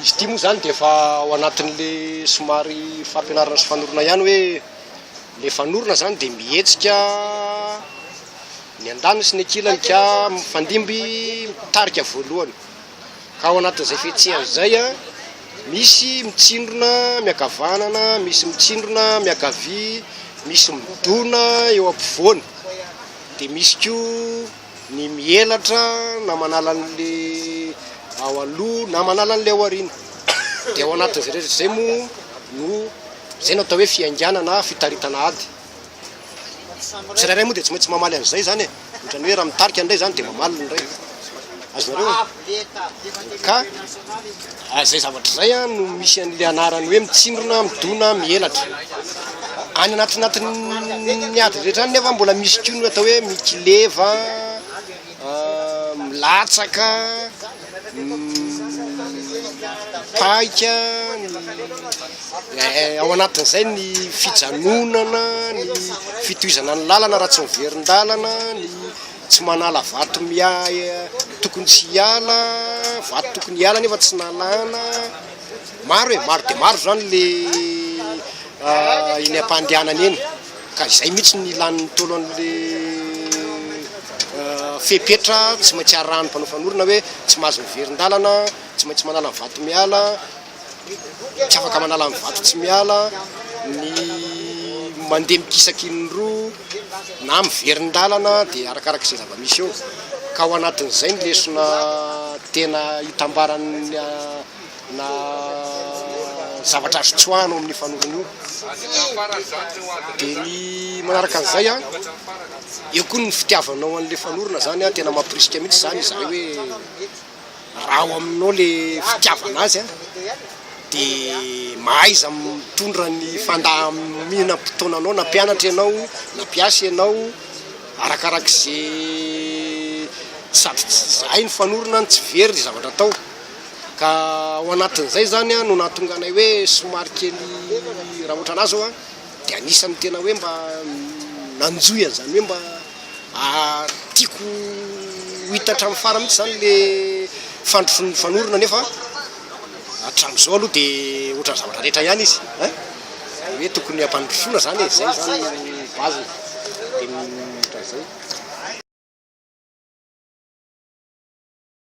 Izy ity moa izany dia efa ao anatin'ilay somary fampianarana sy fanorona ihany hoe le fanorona izany dia mihetsika ny andaniny sy ny ankilany ka mifandimby mitarika voalohany. Ao anatin'izay fihetsehana izay, misy mitsindrona miankavanana, misy mitsindrona miankavia, misy midona eo ampovoany, dia misy koa ny mielatra na manala an'ilay ao aloha na manala an'ilay ao aoriana. Dia ao anatin'izay rehetra izay moa no izay no atao hoe fihainganana na fitaritana ady. Tsirairay moa dia tsy maintsy mamaly an'izay izany e! Ohatrany hoe raha mitarika indray izany dia mamaly ny iray. Azonareo e? Ka izay zavatra izay an no misy an'ilay anarany hoe mitsindrona, midona, mihelatra. Any anatinatin'ny ady rehetra any nefa mbola misy koa ny atao hoe mikileva, milatsaka, Mitaika ny, ao anatin'izay ny fijanonana, ny fitohizana ny lalana raha tsy miverin-dalana, ny tsy manala vato tokony tsy hiala, vato tokony hiala nefa tsy nalana. Maro e, maro dia maro izany ilay eny am-pandehanana eny. Ka izay mihitsy no ilàn'ny Ntaolo an'ilay fepetra tsy maintsy arahan'ny mpanao fanorona hoe tsy mahazo miverin-dalana, tsy maintsy manala ny vato miala, tsy afaka manala ny vato tsy miala, ny mandeha mikisaky in-droa na miverin-dalana dia arakaraka izay zava-misy eo. Ka ao anatin'izay ny lesona tena itambaran'ny. na zavatra azo tsoahana ao amin'ny fanorona io. Dia ny manaraka an'izay an, eo koa ny fitiavanao an'ilay fanorona izany an, tena mampirisika mihitsy izany izahay hoe raha ao aminao ilay fitiavana azy an, dia mahaiza mitondra ny fandaminam-potoananao na mpianatra ianao na mpiasa ianao arakarak'izay sady tsy zahay ny fanorona no tsy very ny zavatra atao. Ka ao anatin'izay izany no nahatonga anay hoe somary kely raha ohatrana ahy izao dia anisan'ny tena hoe mba nanjohy an'izany hoe mba tiako ho hita hatramin'ny farany mihitsy izany ilay fandrosoan'ny mifanorona nefa hatramin'izao aloha dia ohatran'ny zavatra rehetra ihany izy ein! Izany hoe tokony hampandrosoana izany e! Izay izany no base-ny dia ohatran'izay.